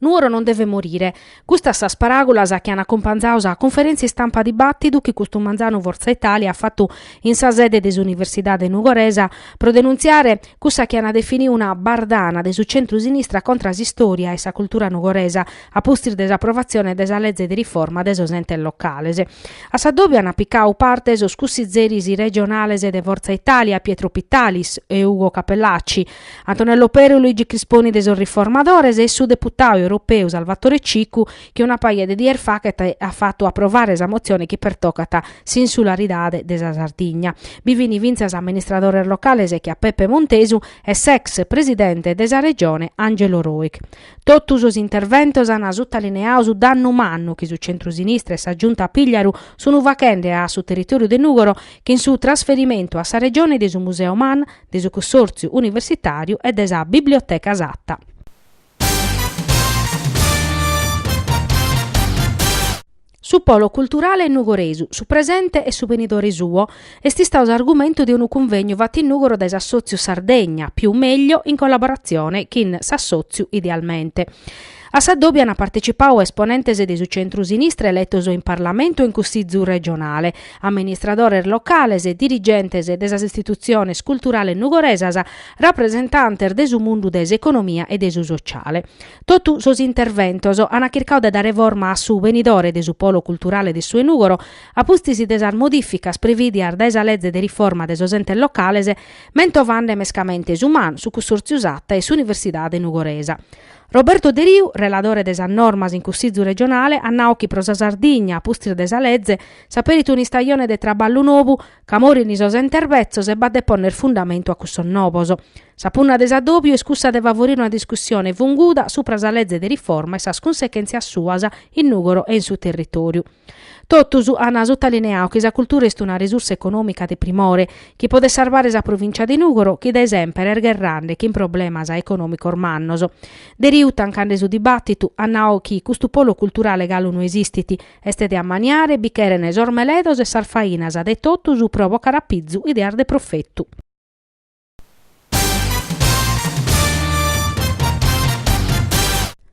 Nuoro non devet morire. Custas sas paràgulas chi an acumpanzau sa conferèntzia istampa dibàtidu chi custu manzanu Forza Italia at fatu in sa sede de s'Universidade nugoresa pro denuntziare cussa chi an definidu una bardana de su centru-sinistra contra s'istòria e sa cultura nugoresa a pustis de s'aprovatzione de sa leze de riforma de sos entes locales. A s'addòbiu an picadu parte sos cussizeris regionales de Forza Italia Pietro Pittalis e Ugo Cappellacci, Antonello Peru, Luigi Crisponi de sos Riformadores e su deputau europeu Salvatore Cicu chi una paja de dies fachet at fatu aprovare sa motzione chi pertocat s'insularidade de sa Sardigna. Bi fin fintzas amministradores locales che a Peppe Montesu e s'ex presidente de sa Regione Angelo Rojch. Totu sos interventos an sutalineau su dannu mannu chi su centrusinistra e sa Giunta Pigliaru sun fachende a su territoriu de Nùgoro chin su trasferimentu a sa Regione de su Museo Man de su Cussòrtziu Universitàriu e de sa Biblioteca Satta. Su polo culturale nugoresu, su presente e su benidore suo, est istau s'argumentu de unu cunvegnu fatu in Nùgoro dae s'Assòtziu Sardegna Più Meglio in collaboratzione chin s'Assòtziu Idealmente. A s'adòbiu ant partecipau esponentes de su centru-sinistra eletos in Parlamentu e in Cussizu regionale, amministradores locales, dirigentes de sas istitutziones culturales nugoresas, rapresentantes de su mundu de s'economia e de su sociale. Totu sos interventos ant chircau de dare forma a su benidore de su polo culturale de su 'e Nùgoro, a pustis de sas modìficas prevìdias dae sa Leze de riforma de sos Entes Locales, mentovande mescamente su Man, su Cussòrtziu Satta e s'Universidade Nugoresa. Roberto Deriu, reladore de sas normas in Cussizu regionale, at nau chi pro sa Sardigna, a pustis de sa leze, s'aperit un'istajone de traballu novu ca morint sos entes betzos e b'at de ponner fundamentu a cussos novos. Sa punna de s'adòbiu est cussa de favorire una discussione funguda supra sa leze de riforma e sas cunsequèntzias suas in Nùgoro e in su territòriu. Totus ant sutalineau chi sa cultura est una resursa econòmica de primore, chi podet sarbare sa provìntzia de Nùgoro chi dae semper est gherrande chin problemas econòmicos mannos. Deriu tancande su dibàtitu at nau chi custu polo culturale galu no esistit, est de ammaniare, bi cheren sos meledos e sas fainas de totus pro bocare a pizu ideas de profetu.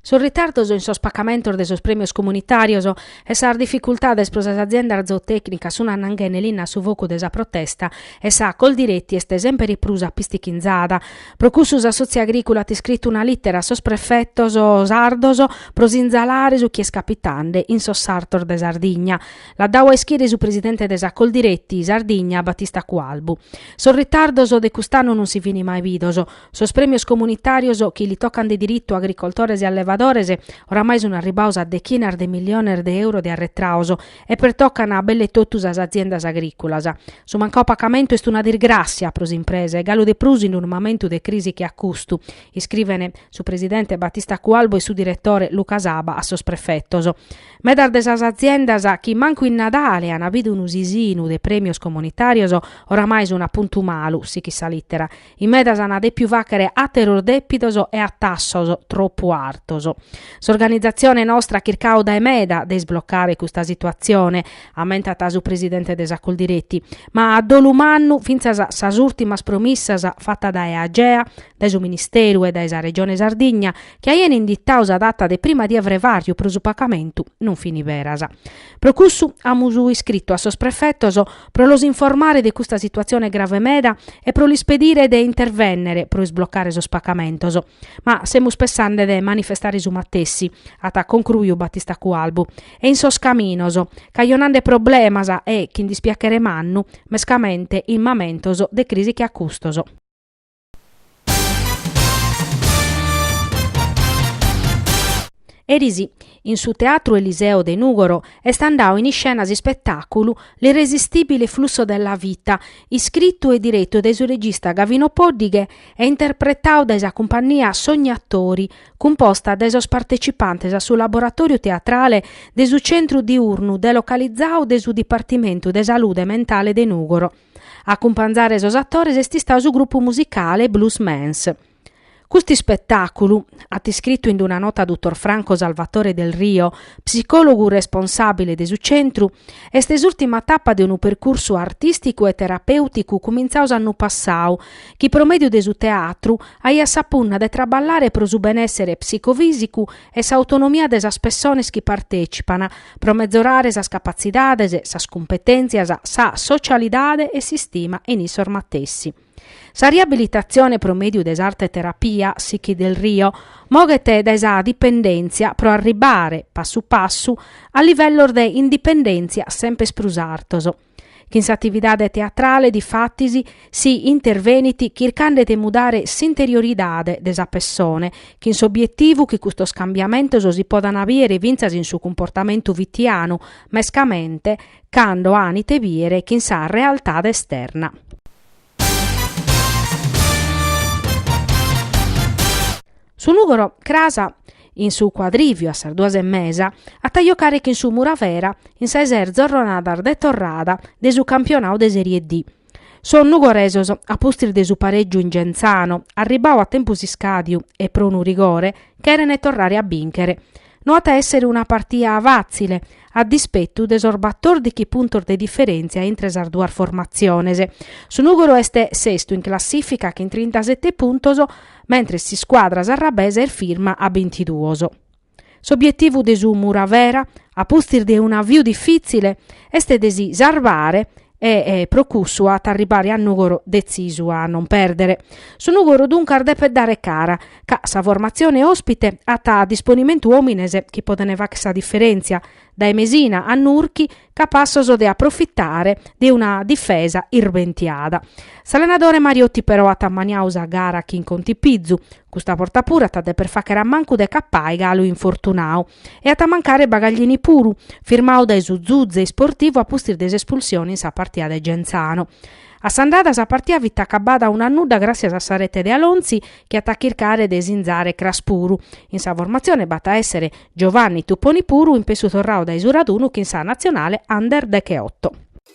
Sos ritardos in sos pacamentos de sos prèmios comunitàrios e sas dificultades pro sas aziendas zootècnicas sun annanghende linna a su focu de sa protesta e sa Coldiretti est semper prus apistichinzada. Pro cussu s'assòtziu agrìculu at iscritu una lìtera a sos prefetos sardos pro sinzalare su chi est capitande in sos sartos de Sardigna. L'at dadu a ischire su presidente de sa Coldiretti Sardigna, Battista Cualbu. Sos ritardos de cust'annu non si fin mai bidos. Sos prèmios comunitàrios, chi li tocan de diritu a agricoltores e allevadores, oramai sun arribados a dechinas de milliones de euro de arretrados e pertocan a belle totu sas aziendas agrìculas. Su mancadu pacamentu est una disgràssia pro s'impresa e galu de prus in unu mamentu de crisi che a custu, iscrivent su presidente Battista Cualbu e su diretore Luca Saba a sos prefetos. Medas de sas aziendas chi mancu in Nadale an bidu unu sisinu de prèmios comunitàrios oramai sun a puntu malu, sighit sa lìtera, in medas an dèpiu fàghere àteros dèpidos e a tassos tropu artos. S'organizatzione nostra at chircadu dae meda de isblocare custa situatzione, ammentat su presidente de sa Coldiretti, ma a dolu mannu fintzas sas ùrtimas promissas fatas dae Agea, dae su Ministeru e dae sa Regione Sardigna chi aien inditau sa data de prima die 'e frevàriu pro su pagamentu, non fin beras. Pro cussu amus iscritu a sos prefetos pro los informare de custa situatzione grave meda e pro lis pedire de intervènnere pro isblocare sos pagamentos, ma semus pessende de manifestare su matessi, at concruiu Battista Cualbu, e in sos caminos, cajonande problemas e, chin dispiachere mannu, mescamente in mamentos de crisi che a custos. Eris, in su Teatru Eliseo de Nùgoro, est andadu in iscena s'ispetàculu L'irresistibile flusso della vita, iscritu e diretu dae su regista Gavino Poddighe e interpretadu dae sa cumpannia Sognatori, cumposta dae sos partecipantes a su laboratòriu teatrale de su centru diurnu delocalizadu de su Dipartimentu de Salude Mentale de Nùgoro. A cumpanzare sos atores est istadu su grupu musicale Blues Mans. Custu ispetàculu, at iscritu in una nota dutor Franco Salvatore Del Rio, psicòlogu responsàbile de su centru, est s'ùrtima tapa de unu percursu artìsticu e terapèuticu cumintzadu s'annu passadu, chi pro mèdiu de su teatru aiat sa punna de traballare pro su benèssere psicofìsicu e s'autonomia de sas pessones chi partècipan, pro mezorare sas capatzidades, sas cumpetèntzias, sa socialidade e s'istima in issos matessi. Sa riabilitatzione pro mèdiu de s'arte terapia, sighit Del Rio, moghet dae sa dipendèntzia pro arribare, passu passu, a livellos de indipendèntzia semper prus artos. Chin s'atividade teatrale, difatis, si intervenit chircande de mudare s'interioridade de sa pessone, chin s'obietivu chi custos cambiamentos si podan bìdere fintzas in su cumportamentu fitianu, mescamente cando an ite bìdere chin sa realtade esterna. Su Nùgoro cras in su cuadrìviu a sas duas e mesa at a jocare chin su Muravera in sa de ses zorronadas de torrada de su campionadu de Serie D. Sos nugoresos, a pustis de su parègiu in Genzano, arribadu a tempus iscàdiu e pro unu rigore, chèrene torrare a bìnchere. No at a èssere una partia fàtzile, a dispetu de sos batòrdighi puntos de diferèntzia intre sas duas formatziones. Su Nùgoro est sestu in classìfica chin trintasete puntos, mentres s'iscuadra sarrabesa est firma a bintiduos. S'obietivu de su Muravera, a pustis de un'aviu difìtzile, est de si sarvare e pro cussu at a arribare a Nùgoro detzisu a non pèrdere. Su Nùgoro duncas depet dare cara, ca sa formatzione òspite at a disponimentu òmines chi podent fàghere sa diferèntzia, dae Mesina a Nurchi, capassos de aprofitare de una difesa irbentiada. S'allenadore Mariotti però at ammaniadu sa gara chin contipizu, custa borta puru at a deper fàghere a mancu de Cappai galu infortunadu, E at a mancare Bagaglini puru, firmadu dae su Zuze Isportivu a pustis de s'espulsione in sa partia de Genzano. A s'andada sa partia fit acabada unu a nudda gràssias a sa rete de Alonzi chi at a chircare de sinzare cras puru. In sa formatzione b'at a èssere Giovanni Tupponi puru in pessu torradu dae su radunu chin sa natzionale Under decheotto.